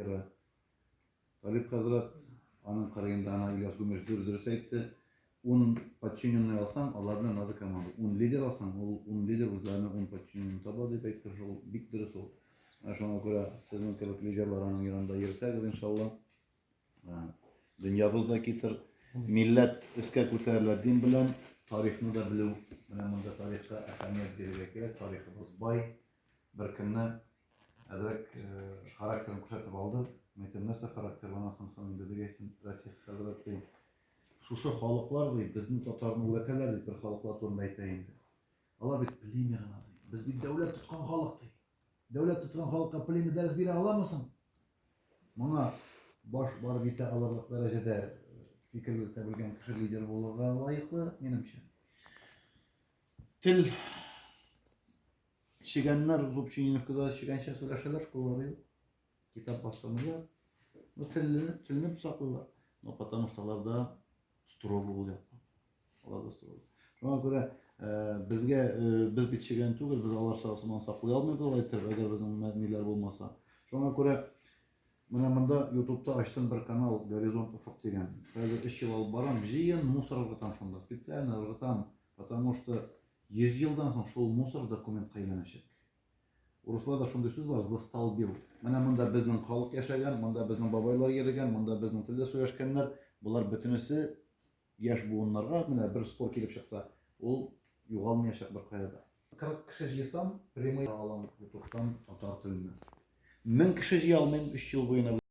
Ира. Талип хәзрәт, аның кырыенда ана Ильяс Гүмеш дүр дөрес әйтте. Ун подчиненный алсаң, алар белән надо команда. Ун лидер алсаң, ул ун лидер үзләренә ун подчиненный таба дип әйтте, шул бик дөрес ул. Ә Шуңа күрә сезнең кебек лидерлар аның янында йөрсәгез, иншалла, ә, дөньябыз да китер, милләт өскә күтәрелә дин белән, тарихны да белү, менә монда тарихка әһәмият бирергә кирәк, тарихыбыз бай, Бер көнне әзрәк характерын күрсәтеп алды. Мин әйтәм, нәрсә характерланасың соң инде, дип әйттем. Расих хәзрәт, дим, шушы халыклар, ди, безнең татарны үрәтәләр, дип бер халыклар турында әйтә инде. Алар бит племя гына, ди. Без бит дәүләт тоткан халык, ди. Дәүләт тоткан халыкка племя дәрес бирә аламы соң? Моңа баш барып җитә алырлык дәрәҗәдә фикер йөртә белгән кеше лидер булырга лаеклы, минемчә. Тел Чегәннәр Зубчининовкада чегәнчә сөйләшәләр, школалары юк. Китап бастырмыйлар. Ну, телне, телне саклыйлар. Ну, потому что аларда строго ул якта. Аларда строго. Шуңа күрә э, безгә э, без бит чегән түгел, без алар сагысыман саклый алмыйбыз алай иттереп, әгәр безнең мәдниләр булмаса. Шуңа күрә менә монда ютубта ачтым бер канал Горизонт Уфык дигән. Хәзер 3 ел алып барам, җыен мусор ыргытам шунда. Специально ыргытам, потому что Йөз елдан соң шул мусор документка әйләнәчәк. Урысларда шундый сүз бар, застолбил. Менә монда безнең халык яшәгән, монда безнең бабайлар йөрегән, монда безнең телдә сөйләшкәннәр. Болар бөтенесе яшь буыннарга менә бер спор килеп чыкса, ул югалмыячак беркая да. Кырык кеше җыйсам, прямой алам ютубтан татар теленә. Мең кеше җыя алмыйм өч ел буена.